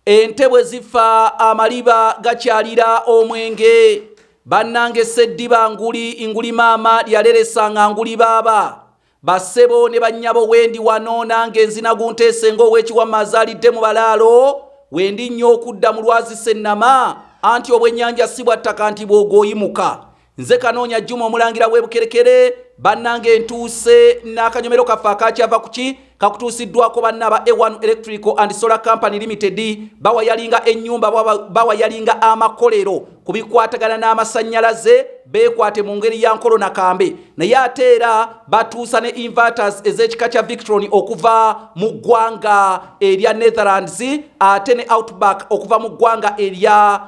ente bwe zifa amaliba gakyalira omwenge bannange seddiba nguli nguli maama lyaleresa nga nguli baaba bassebo ne bannyabo wendi wano nange nzina gunteese ng'owekiwamma azaalidde mu balaalo wendi nnyo okudda mu lwazi sennama anti obwennyanja si bwa ttaka nti bw'ogooyimuka nze kanoonya juma omulangira w'ebukerekere bannanga entuuse n'akanyomero kaffe akakyava ku ki kakutuusiddwako banna aba a1 electrical and solar company limited bawa yalinga ennyumba bawa yalinga amakolero ku bikwatagana n'amasannyalaze beekwate mu ngeri ya nkolo na kambe naye ate era batuusa ne inverters ez'ekika kya victron okuva mu ggwanga erya netherlands ate ne outback okuva mu ggwanga erya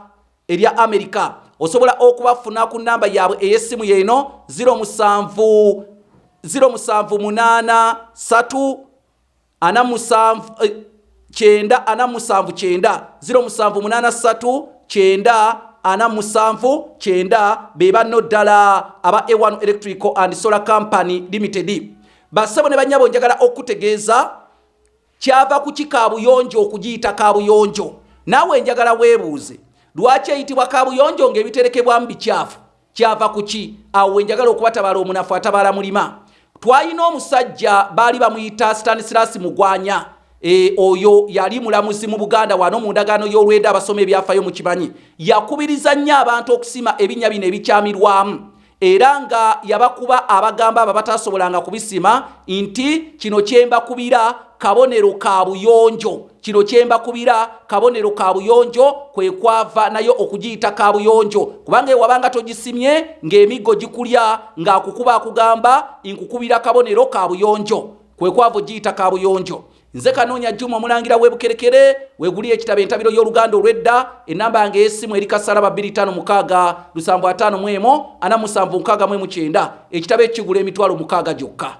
ebya amerika osobola okubafuna ku namba yaabwe ey'essimu yeeno 0783979479 be banno ddala aba a1 electrical and solar company limited bassebo ne bannyabo njagala okutegeeza Kyava kuki kaabuyonjo okugiyita kaabuyonjo? Naawe njagala weebuuze lwaki eyitibwa kaabuyonjo ng'ebiterekebwamu bikyafu? Kyava kuki? Awo we njagala okubatabala omunafu atabaala mulima. Twalina omusajja baali bamuyita Stanislas Mugwanya. E, oyo yali mulamuzi mu Buganda wano mu ndagaano y'olweda abasoma ebyafayo mu kimanyi. Yakubiriza nnyo abantu okusima ebinnya bino ebikyamirwamu. era nga yabakuba abagamba abo abatasobolanga kubisima nti kino kyembakubira kabonero ka buyonjo kino kyembakubira kabonero ka buyonjo kwe kwava nayo okugiyita ka buyonjo kubanga ewabanga togisimye ng'emiggo gikulya ng'akukuba akugamba nkukubira kabonero ka buyonjo kwe kwava ogiyita ka buyonjo Nze Kanoonya Juma omulangira w'ebukerekere weguli ekitabo entabiro y'oluganda olw'edda ennamba yange ey'essimu eri kasalaba 25565179 ekitabo ekigula emitwalo mukaaga gyokka.